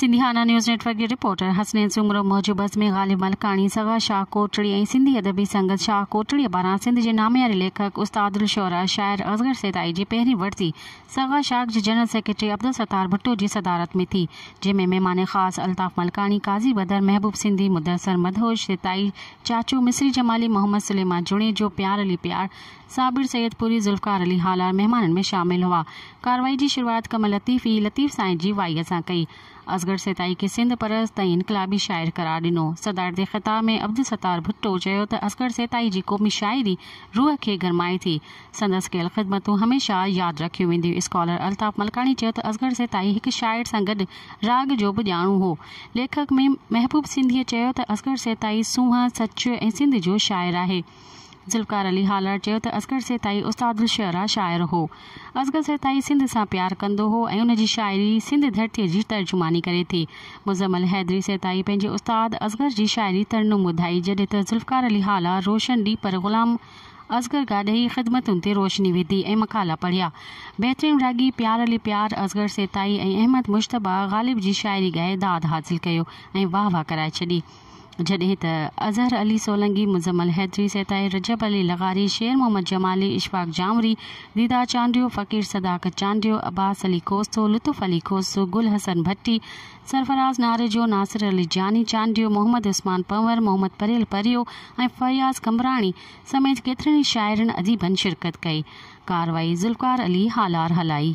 Sindhiana news network جي reporter Hasnain Soomro موجب عزمي غالب ملڪاڻي سگا شاهه ڪوٽڙي ۽ سنڌي ادبي سنگت شاهه ڪوٽڙي پاران سنڌ جي نامياري ليکڪ استاد الشعراء شاعر اصغر سيتائي جي پهرين ورسي سگا شاخ جي جنرل سيڪريٽري عبدالستار ڀٽو جي صدارت ۾ ٿي جنهن ۾ مهمان خاص الطاف ملڪاڻي قاضي بدر محبوب سنڌي مدثر مدهوش سيتائي چاچو مصري جمالي محمد سليمان جوڻيجو پيار علي پيار صابر سيدپوري، ذوالفقار علي هالار مهمانن ۾ شامل هئا. ڪارروائي جي شروعات ڪم لطيف اي لطيف سائين جي وائيء سان ڪئي. اصغر سيتائي کي سنڌ پرست ۽ انقلابي شاعر قرار ڏنو. صدارتي خطاب ۾ عبدالستار ڀٽو چيو ته اصغر سيتائي جي قومي شاعري روح کي گرمائي ٿي. سندس ڪيل خدمتون هميشه ياد رکيون وينديون. اسڪالر الطاف ملڪاڻي چيو ته اصغر سيتائي هڪ شاعر سان گڏ راڳ جو به ڄاڻو هو. ليکڪ ميم محبوب سنڌيء چيو ته اصغر سيتائي سونهن، سچ ۽ سنڌ جو شاعر آهي. ذوالفقار علي هالار چيو ته اصغر سيتائي استاد الشعراء شاعر هو. اصغر سيتائي سنڌ سان پيار ڪندو هو ۽ ان جي شاعري سنڌ ڌرتيء جي ترجماني ڪري ٿي. مزمل حيدري سيتائي پنهنجي استاد اصغر جي شاعري ترنم ٻڌائي جڏهن ته ذوالفقار علي هالار روشن ڏي پر غلام اصغر گاڏهي خدمتن تي روشني وڌي ۽ مقالا پڙهيا. بهترين راڳي پيار علي پيار اصغر سيتائي ۽ احمد مجتبيٰ غالب جي شاعري ڳائي داد حاصل ڪيو ۽ واهه واهه ڪرائي ڇڏي. جڏهن ته اظهر علي سولنگي، مزمل حيدري، سيتائي رجب علي لغاري، شير محمد جمالي، اشفاق جانوري، ديدار چانڊيو، فقير صداقت چانڊيو، عباس علي کوسو، لطف علي کوسو، گل حسن ڀٽي، سرفراز ناريجو، ناصر علي جاني چانڊيو، محمد عثمان پنور، محمد پريل پريو ۽ فياض قمبراڻي سميت ڪيترن ئي شاعرن اديبن شرڪت ڪئي. ڪارروائي ذوالفقار علي هالار هلائي.